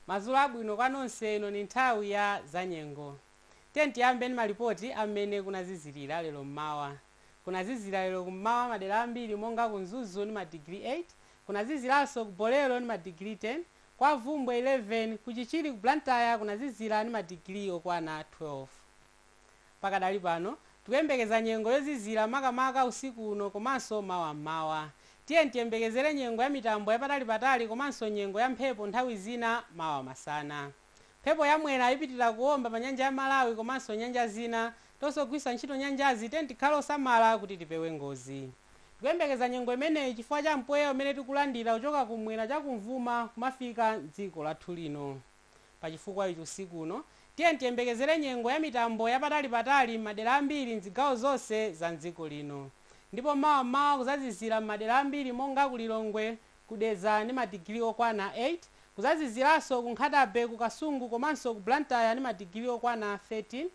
madzulo abwino kwa nonse ino ndi nthawi ya zanyengo tiyeni tiyambe ndi malipoti a mmene kunazizilira lero mmawa kunazizira lero kummawa madera ambiri monga ku mzuzu ndi madigiri 8 kunaziziranso ku bolero ndi madigiri 10 kwa Bvumbwe 11 ku chichiri ku blantyre kunazizira ndi madigiri okwana 12 Pakadali pano, tikuyembekeza nyengo yozizira makamaka usiku uno komanso mawa m'mawa. Tiyeni tiyembekezere nyengo ya mitambo yapatalipatali komanso nyengo ya mphepo nthawi zina mawa masana. Mphepo ya Mwera ipitilira kuomba pa nyanja ya Malawi komanso nyanja zina. Tonse ogwiritsa ntchito nyanjazi tiyeni tikhale osamala kuti tipewe ngozi. Tikuyembekeza nyengo imeneyi chifukwa cha mpweya umene tikulandira kuchoka kumwera chakumvuma kumafika m'dziko lathu lino. Pa chifukwa ichi usiku uno, tiyeni tiyembekezere nyengo ya mitambo ya patali patali m'madera ambiri m'zigawo zonse za m'dziko lino. Ndipo mawa m'mawa kuzazizira m'madera ambiri monga ku Lilongwe, ku Dedza ndi ma digili okwana 8, kuzaziziranso ku Nkhata-Bay, ku Kasungu komanso ku Blantyre ndi ma digili okwana 13,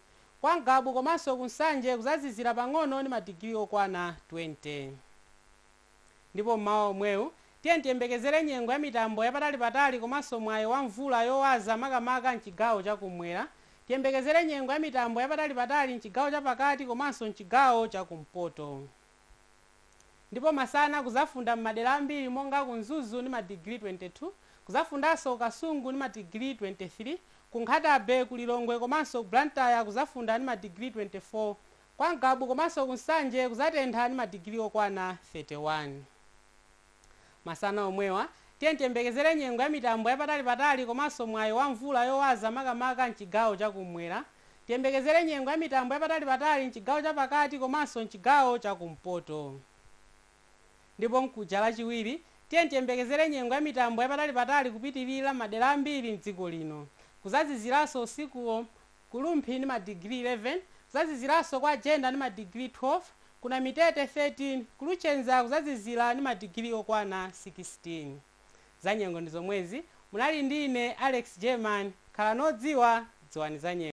kwa Ngabu komanso ku Nsanje kuzazizira pang'ono ndi ma digili okwana 20. Ndipo mmawa womwewu, tiyeni tiyembekezere nyengo ya mitambo yapatalipatali komanso mwayi wa mvula yowaza makamaka m'chigawo cha kum'mwera. Tiyembekezere nyengo ya mitambo yapatalipatali m'chigawo chapakati komanso m'chigawo cha kumpoto. Ndipo masana kudzafunda m'madera ambiri monga ku Mzuzu ndi madigiri 22, kudzafundanso ku Kasungu ndi madigiri 23, ku Nkhata Bay, ku Lilongwe komanso ku Blantyre kudzafunda ndi madigiri 24. Kwa Ngabu komanso ku Nsanje kuzatentha ndi madigili okwana 31 masana omwewa. Tiyeni tiyembekezere nyengo ya mitambo yapatali patali komanso mwayi wa mvula yowaza makamaka m'chigawo cha kummwera. Tiyembekezere nyengo ya mitambo yapatali patali m'chigawo cha pakati komanso m'chigawo cha kumpoto. Ndipo mkuja lachiwiri, tiyeni tiyembekezere nyengo ya mitambo yapatali patali kupitilira m'madera ambiri m'dziko lino. Kuzaziziranso usikuwo. Ku Rumphi ndi madigiri 11, kuzaziziranso kwa Jenda ndi madigiri 12, ku Namitete 13, ku Luchenza kuzazizira ndi madigiri okwana 16. Zanyengo ndi zomwezi, munali ndi ine Alex German, khalani odziwa, dziwani zanyengo.